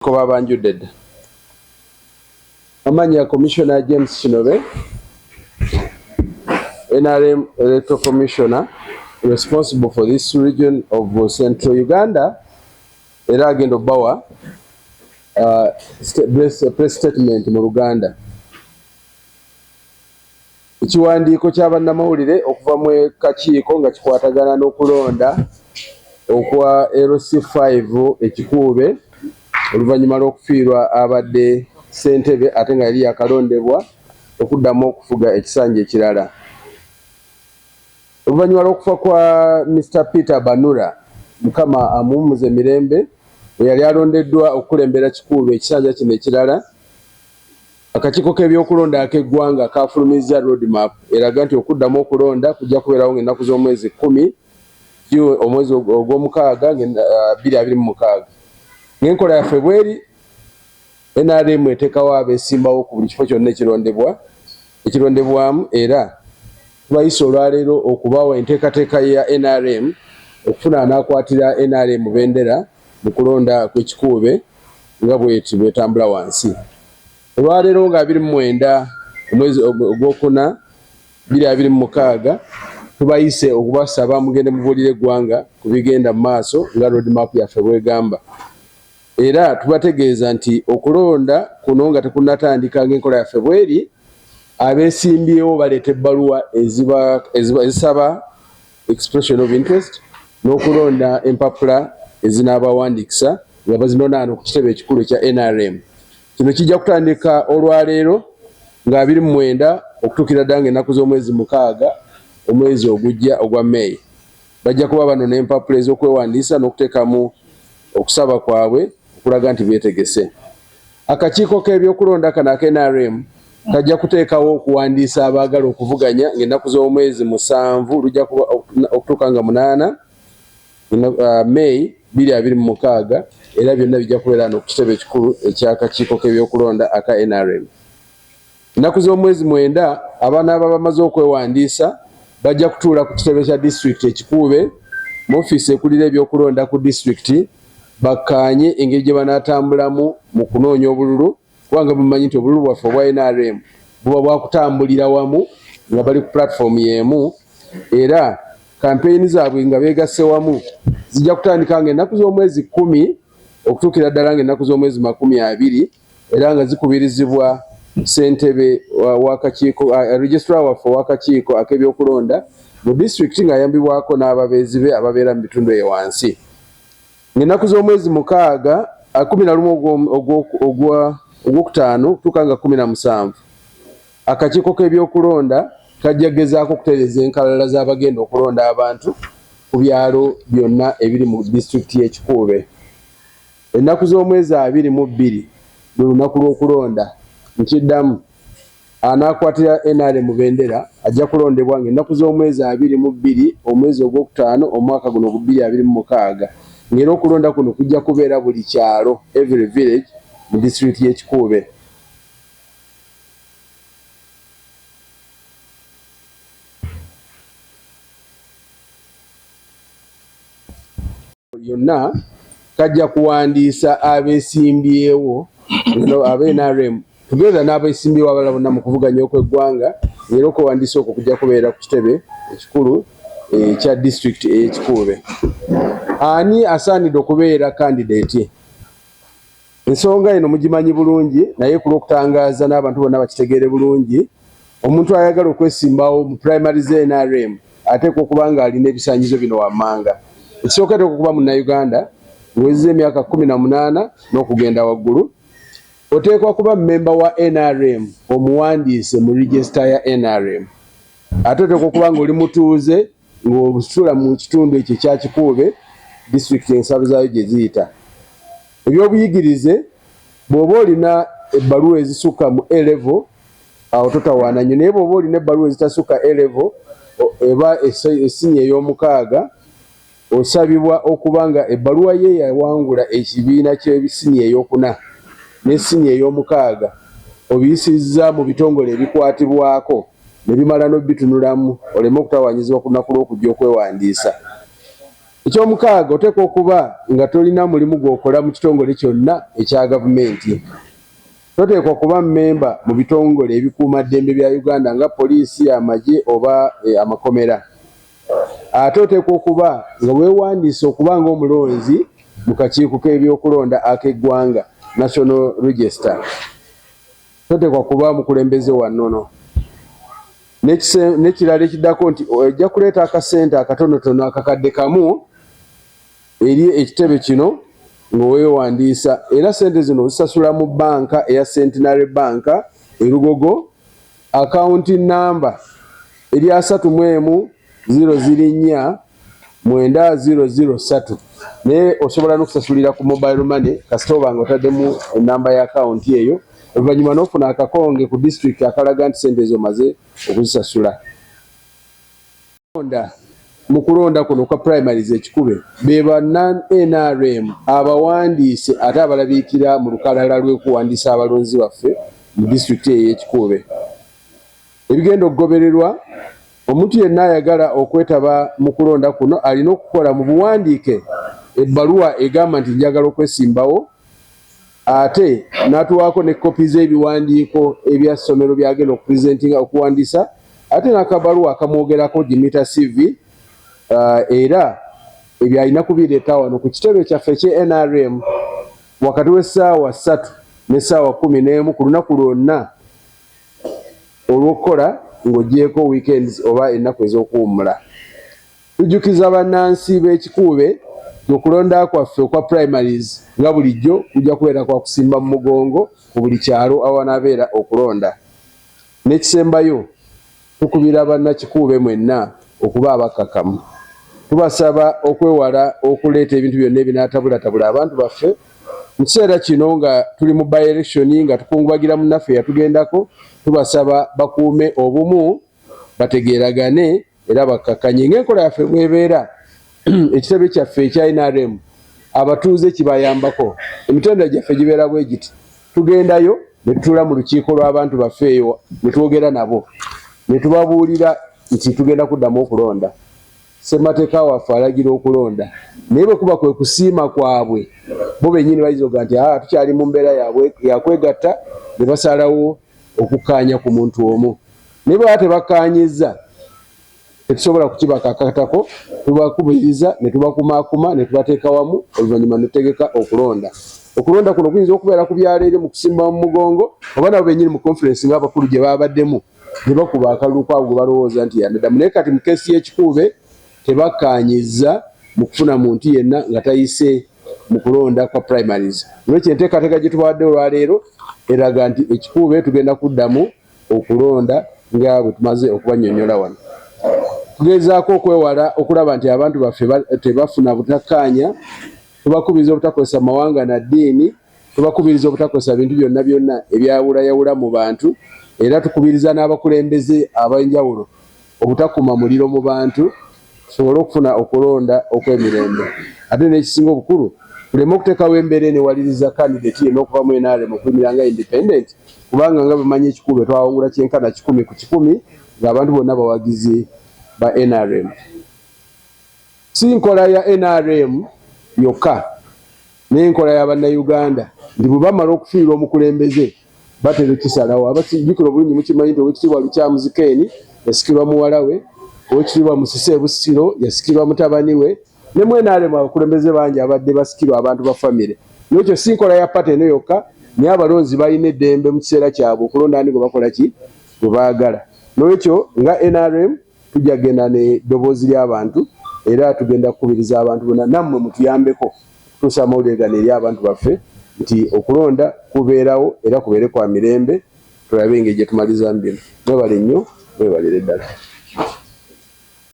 ko babanjudde dda amanya commissioner James Kinobe NRM electoral commissioner responsible for this region of central Uganda era agenda obawa uh, press statement mu Luganda Ekiwandiiko kya bannamawulire okuva mu kakiiko nga kikwatagana n'okulonda okwa LC five e Kikuube oluvannyuma lw'okufiirwa abadde ssentebe ate nga yali yakalondebwa okuddamu okufuga ekisanja ekirala. Oluvannyuma lw'okufa kwa Mister Peter Banura Mukama amuwummuze mirembe eyali alondeddwa okukulembera Kikuube ekisanja kino ekirala, Akakiiko k'ebyokulonda ak'eggwanga kaafulumizza road map eraga nti okuddamu okulonda kujja kubeerawo ng'ennaku z'omwezi kkumi omwezi ogw'omukaaga bbiri abiri mu mukaaga ng'enkola yaffe bweri nrm eteekawo abeesimbawo ku buli kifo kyonna ekirondebwa ekirondebwamu era tubayisa olwaleero okubawa enteekateeka ya nrm okufuna anaakwatira nrm bendera mu kulonda kw'ekikuube nga bweti bwetambula wansi olwaleero nga abiri mu mwenda omwezi ogwokuna biri abiri mu mukaaga tubayise okubasaba mugende mubuulire eggwanga ku bigenda mu maaso nga roadmap yaffe bwegamba era tubategeeza nti okulonda kuno nga tekunatandika ng'enkola yaffe bweri abesimbyewo baleeta ebbaluwa ezisaba expression of interest n'okulonda empapula ezinaabawandiikisa nga bazinonaano ku kitebe ekikulu ekya nrm kino kijja kutandika olwaleero nga abiri mu mwenda okutuukira ddala nga ennaku z'omwezi mukaaga omwezi ogujja ogwa may bajja kuba bano n'empapula ez'okwewandiisa n'okuteekamu okusaba kwabwe okulaga nti beetegese Akakiiko k'ebyokulonda kano aka nrm kajja kuteekawo okuwandiisa abaagala okuvuganya ng'ennaku z'omwezi musanvu lujja kuba okutuuka nga munaana uh, May biri abiri mu mukaaga era byonna bijja kubeera no ku kitebe ekikulu eky'akakiiko k'ebyokulonda aka nrm. Ennaku z'omwezi mwenda abanaaba bamaze okwewandiisa bajja kutuula ku kitebe kya disitulikiti ekikuube mu ofiisi ekulira ebyokulonda ku disitulikiti bakkaanye engeri gye banaatambulamu mu kunoonya obululu kubanga bumanyi nti obululu bwaffe obwa nrm buba bwakutambulira wamu nga bali ku pulatifoomu y'emu era kampeyini zaabwe nga beegasse wamu zijja kutandika nga ennaku z'omwezi kkumi okutuukira ddala nga ennaku z'omwezi makumi abiri era nga zikubirizibwa ssentebe wakakiiko registra waffe owakakiiko ak'ebyokulonda mu disitulikiti ng'ayambibwako n'ababeezi be ababeera mu bitundu eyo wansi ng'ennaku z'omwezi mukaaga kumi na lumu ogwokutaano okutuuka nga kumi na musanvu akakiiko k'ebyokulonda kajja kugezaako okutereeza enkalala z'abagenda okulonda abantu ku byalo byonna ebiri mu disitulikiti y'ekikuube Ennaku z'omwezi abiri mu bbiri lwe lunaku lw'okulonda. Nkiddamu, anaakwatira nrm bendera ajja kulondebwa ng'ennaku z'omwezi abiri mu bbiri omwezi ogwokutaano omwaka guno ogu bbiri abiri mu mukaaga ng'era okulonda kuno kujja kubeera buli kyalo, every village, mu disitulikiti y'e Kikuube. yonna kajja kuwandiisa abesimbyewo abe nrm tugeza n'abesimbyewo abala bonna mu kuvuganya okw'eggwanga era okwewandiisa okwo kujja kubeera ku kitebe ekikulu ekya eh, disitulikiti ey'ekikuube ani asaanidde okubeera kandideeti Ensonga eno mugimanyi bulungi naye ku lw'okutangaaza n'abantu bonna bakitegeere bulungi, omuntu ayagala okwesimbawo mu primary za nrm ateekwa okuba ng'alina ebisaanyizo bino wammanga. Ekisooka ateekwa okuba Munnayuganda ng'owezezza emyaka kkumi na munaana n'okugenda waggulu. Oteekwa kuba mmemba wa nrm omuwandiise mu regisita ya nrm. Ate oteekwa okuba ng'oli mutuuze ng'osula mu kitundu ekyo ekya Kikuube, disitulikiti ensalo zaayo gye ziyita. Ebyobuyigirize, Bw'oba olina ebbaluwa ezisukka mu A level awo totawaana nnyo naye bw'oba olina ebbaluwa ezitasukka A level eba essinye ey'omukaaga osabibwa okuba nga ebbaluwa ye yawangula ekibiina ky'ebissinye ey'okuna n'essinye ey'omukaaga obiyisizza mu bitongole ebikwatibwako ne bimala n'obitunulamu oleme okutawaanyizibwa ku lunaku lw'okujja okwewandiisa. Eky'omukaaga, oteekwa okuba nga tolina mulimu gw'okola mu kitongole kyonna ekya gavumenti. Toteekwa kuba mmemba mu bitongole ebikuuma ddembe bya Uganda nga poliisi, amagye oba amakomera. Ate oteekwa okuba nga weewandiisa okuba ng'omulonzi mu kakiiko k'ebyokulonda ak'eggwanga, National Register. Toteekwa kuba mukulembeze wa nnono. N'ekirala ekiddako nti ojja kuleeta akasente akatonotono akakadde kamu eri ekitebe kino nga weewandiisa era ssente zino ozisasula mu bbanka eya Centenary Bank e Lugogo akawunti nnamba eri asatu mu emu ziro ziri nnya mwenda ziro ziro satu naye osobola nokusasulira ku mobile money kasita obanga otaddemu enamba ya akawunti eyo oluvannyuma nofuna akakonge ku district akalaga nti sente ezo omaze okuzisasula onda mu kulonda kuno kwa primaries ekikube be ba nrm abawandiise ate abalabiikira mu lukalala lw'okuwandiisa abalonzi baffe mu disitulikiti eyo ekikube Ebigenda okugobererwa, Omuntu yenna ayagala okwetaba mu kulonda kuno alina okukola mu buwandiike ebbaluwa egamba nti njagala okwesimbawo ate n'atuwaako ne kkopi z'ebiwandiiko ebya ssomero by'agenda okupresentinga okuwandiisa ate n'akabaluwa akamwogerako Jimita CV uh, era ebyo alina kubireeta wano ku kitebe kyaffe eky nrm wakati w'essaawa ssatu n'essaawa kkumi n'emu ku lunaku lwonna olw'okukola ng'ogyeko weekends oba ennaku ez'okuwummula. Tujjukiza bannansi b'e Kikuube nti okulonda kwaffe okwa Primaries nga bulijjo kujja kubeera kwa kusimba mu mugongo mu buli kyalo awanabeera okulonda. N'ekisembayo. Tukubira banna Kikuube mwenna okuba abakkakkamu. Tubasaba okwewala okuleeta ebintu byonna ebinaatabulatabula abantu baffe mu kiseera kino nga tuli mu by-election nga tukungubagira munnaffe eyatugendako. Tubasaba bakuume obumu, bategeeragane era bakkakkanye ng'enkola yaffe bw'ebeera. ekitebe kyaffe ekya nrm abatuuze kibayambako emitendera gyaffe gibeera bwe giti tugendayo ne tutuula mu lukiiko lw'abantu baffe eyo ne twogera nabo ne tubabuulira nti tugenda kuddamu okulonda ssemateeka waffe alagira okulonda naye bwe kuba kwe kusiima kwabwe bo bennyini bayinza okuga nti aa tukyali mu mbeera yabwe yakwegatta ne basalawo okukkaanya ku muntu omu naye bweba tebakkaanyizza tetusobola kukibakakatako tubakubiriza netubakumakuma netubateeka wamu oluvannyuma netutegeka okulonda okulonda kuno kuyinza okubeera ku byalo eri mu kusimba mu mugongo oba nabo benyini mu conference ngaabakulu gye babaddemu ne bakuba akalulu kwabo gwe balowooza nti yanadamu naye kati mu keesi y'ekikuube tebakkaanyizza mu kufuna muntu yenna nga tayise mu kulonda kwa primaries olwekyo enteekateeka gye tubawadde olwaleero eraga nti ekikuube tugenda kuddamu okulonda nga bwe tumaze okubanyonyola wano tugezaako okwewala okulaba nti abantu baffe tebafuna butakkaanya tubakubiriza obutakozesa mawanga na ddiini tubakubiriza obutakozesa bintu byonna byonna ebyawulayawula mu bantu era tukubiriza n'abakulembeze ab'enjawulo obutakuma muliro mu bantu tusobole okufuna okulonda okw'emirembe ate n'ekisinga obukulu tuleme okuteekawo embeera enewaliriza kandidate yena okuva mu nrm okulimira nga independent kubanga nga bwemanyi ekikulu etwawangula kyenkana kikumi ku kikumi ng'abantu bonna bawagizi ba nrm si nkola ya nrm yokka n'enkola ya bannayuganda nti bwe bamala okufiirwa omukulembeze batera ekisalawo abakijjukira obulungi mukimanyi nti owekitiibwa lukyamuzi keeni yasikirwa muwala we owekitiibwa musisi ebusiro yasikirwa mutabani we ne mwenaremu abakulembeze bangi abadde basikirwa abantu ba famire nekyo si nkola ya pate eno yokka naye abalonzi balina eddembe mu kiseera kyabwe okulonda ani gwe bakola ki gwe baagala nolwekyo nga nrm tujja kugenda ne ddoboozi ly'abantu era tugenda kukubiriza abantu bona nammwe mutuyambeko okutuusa amawulire gano eri abantu baffe nti okulonda kubeerawo era kubeere kwa mirembe tulabe engeri gye tumalizamu bino mwebale nnyo mwebalire ddala